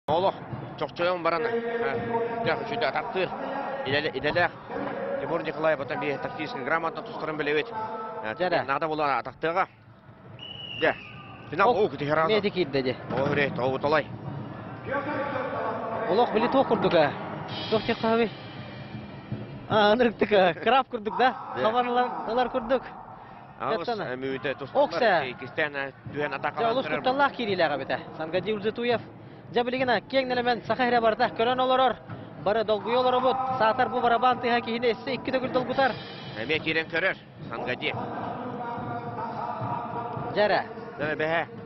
Олох чохчойон баран дьэ атартыыр идэлээх Тимур Николаев оттон би тактическай грамота тускарын билэбит. Дьэ, наада болуон атахтыаға. Дьэ, финал ол күтіхеран. Неди кирде де. О үрет, о уталай. Олох били туох курдуга? Туох технологи? А, анырыктыка, краб курдук да? Хабарлар, олар курдук. Олус кутталлаах киириилээх эбитэ. Сангадил Зитуев. Дьэ билигина киэҥ нэлэмэн саха эрэ барда көрөн олорор. Бары долгуйа олоробут. Саатар бу барабан тыһа киһини эссе икки төгүл долгутар. Эмиэ киирэн көрөр. Сангади. Дьэрэ. Дэнэ бэһэ.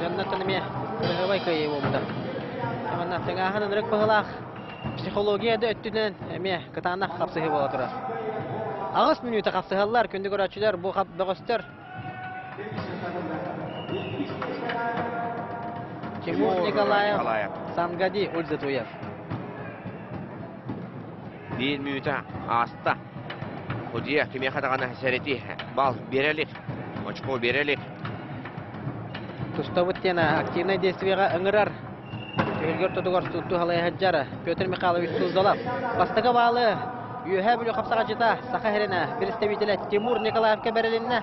Дьоннортон эмиэ кыраһыабай кыайыы буолбута. Манна тыҥааһын ырык быһылаах психология да өттүнэн эмиэ кытаанах хапсыһыы буола турар. Аҕыс мүнүүтэ хапсыһаллар күндү көрөөччүлэр бу хап бөҕөстөр. Чему Николаев Сангади ульзатуев. Биир мүнүүтэ ааста. Худьуйа кимиэхэ даҕаны сэрэтии бал биэрэ илик, очко биэрэ илик. Тустабыт диэн активнай действиеҕа ыҥырар. Түһүлгэ ортотугар сутту халайа сылдьар Петр Михайлович Суздалов. Бастакы баалы Үөһээ Бүлүү хапсаҕачыта Саха сиринэ представителэ Тимур Николаевка бэрилиннэ.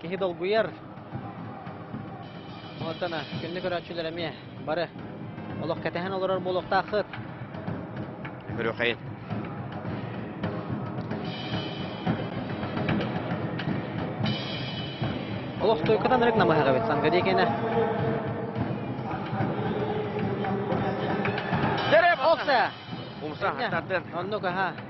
киһи долгуйар. Уонтан кинини көрөөччүлэр эмиэ бары олох кэтэһэн олорор буолуохтааххыт. Көрүөхэйин. Олох туйкутан рык намыһаҕабыт сангадикине. Дерев, олса! Умса, хаттардын. Оннук, аха.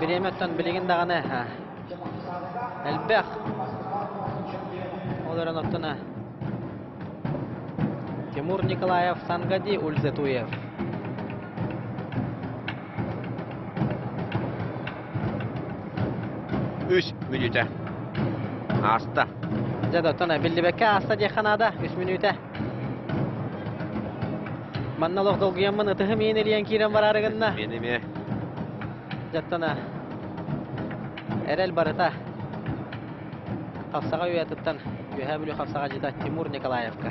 Бириэмэттэн билигин даҕаны элбэх. Ол эрэн оттуна Тимур Николаев, Сангади Ульзетуев. Үс мүнүүтэ. Ааста. Дьэ, доттон биллибекке ааста диэххэ наада. Үс мүнүүтэ. Манна олох долгуйаммын ытыһым иин илийэн киирэн бараары гынна. Мин эмиэ. Дьаттана. Эрэл барыта. Хапсаҕа үйатыттан Үөһээ Бүлүү хапсаҕа дьита Тимур Николаевка.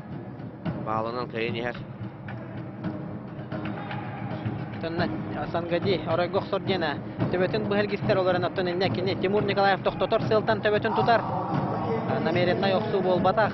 Баалынан кэйин иһэр. Оттонно Сангади, оройго охсор диэн төбөтүн быһа эргистэр олорон оттон иннэ кини Тимур Николаев тохтотор сылтан төбөтүн тутар. Намереннай охсуу буолбатах.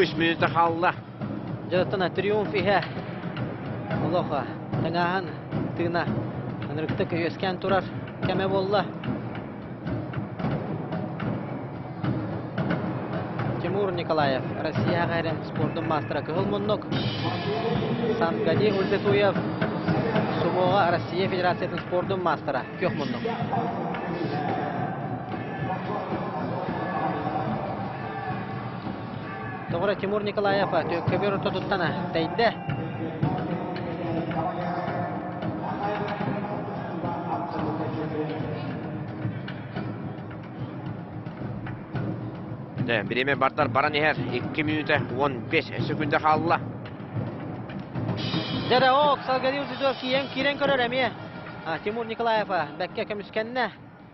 Үс мүнүтэ хаалла. Дьарыктан триумф иһэ. Олоха, тыҥааһын, тыына. Ынырыктык үөскээн турар кэмэ буолла. Тимур Николаев, Россияҕа эрэ спордун маастара кыһыл муннук. Сангани Ульбетуев, Сумоҕа Россия Федерациятын спордун маастара күөх муннук. Тоҕура Тимур Николаев түөккэбиэр орто туттан тэйдэ. Бириэмэ бардар баран иһэр. 2 минута 15 секунда хаалла. Дэрэ-оп, Салгariев Зидов киирэн көрөр эмиэ. Тимур Николаев бэккэ көмүскэннэ.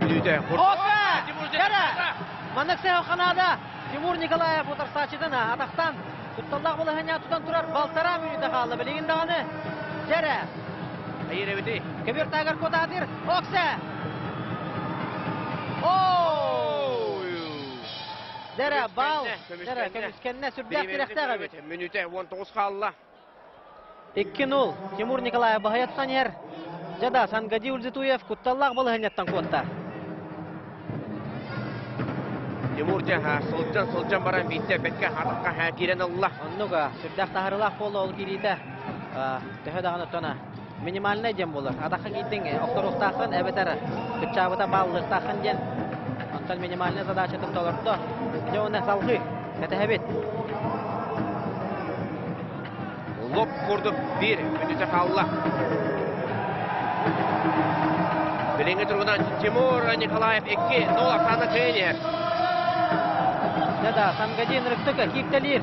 Бүлүүтэ. Опа! Тимур Дьара! Маннык сэһэл ханаада Тимур Николаев утарсааччытына атахтан кутталлаах балаһыанньа тутан турар балтараа мүнүүтэ хаалла билигин даҕаны Дьара Айырэбити. Кобертагар кутаатыр. Оксе! Дэрэ, бал. Дэрэ, көмүскэннэ. Сүрдээх тирэхтээх эбит. Мүнүүтэ 19 хаалла. Икки нуул Тимур Николаев баһыйаттан иһэр. Дьада Сангадий Ульзитуев кутталлаах балаһыанньаттан куотта. Тимур дьаһа сылдьан сылдьан баран биирдэ бэткэ хатахха һаа киирэн ылла. Оннуга сүрдээх таһарыылаах буола ол киириитэ төһө даҕаны оттона минимальнай дьэм буолар. Атахха киирдиҥ, охторуохтааххын эбэтэр кыччаабыта бааллыахтааххын диэн. Оттон минимальнай задачатын толордо. Дьэ уонна салҕыы. Кэтэһэбит. Лоп курдук биир мүнүүтэ хаалла. Билиҥҥи туругунан Тимур Николаев икки, Нол Оксана Кыйниев. Да-да, Самгадин Рыктыка кииптэлиир.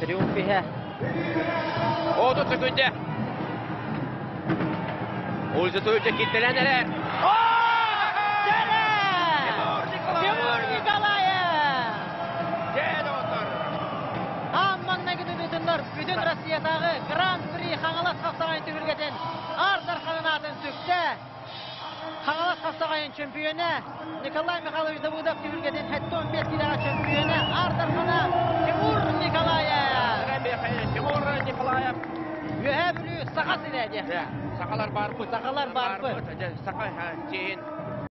Триумф иһэ. Ооту төкүйдэ. Ульза Туйча киттэлэн эрэр. Тимур Николаев! Аан манна күтүтүннөр бүтүн Россиятааҕы Гран-при Хаҥалас Хапсаҕай түһүлгэтин ар дарханын аатын сүктэ. Хаҥалас Хастаҕайын чөмпүйүөнэ Николай Михайлович Давыдов түһүлгэтин 75 киилэҕэ чөмпүйүөнэ аардарҕана Тимур Николаев. Тимур Николаев Үөһээ Бүлүү саха сирэ диэн. Сахалар барбыт. Сахалар барбыт. Саха сиин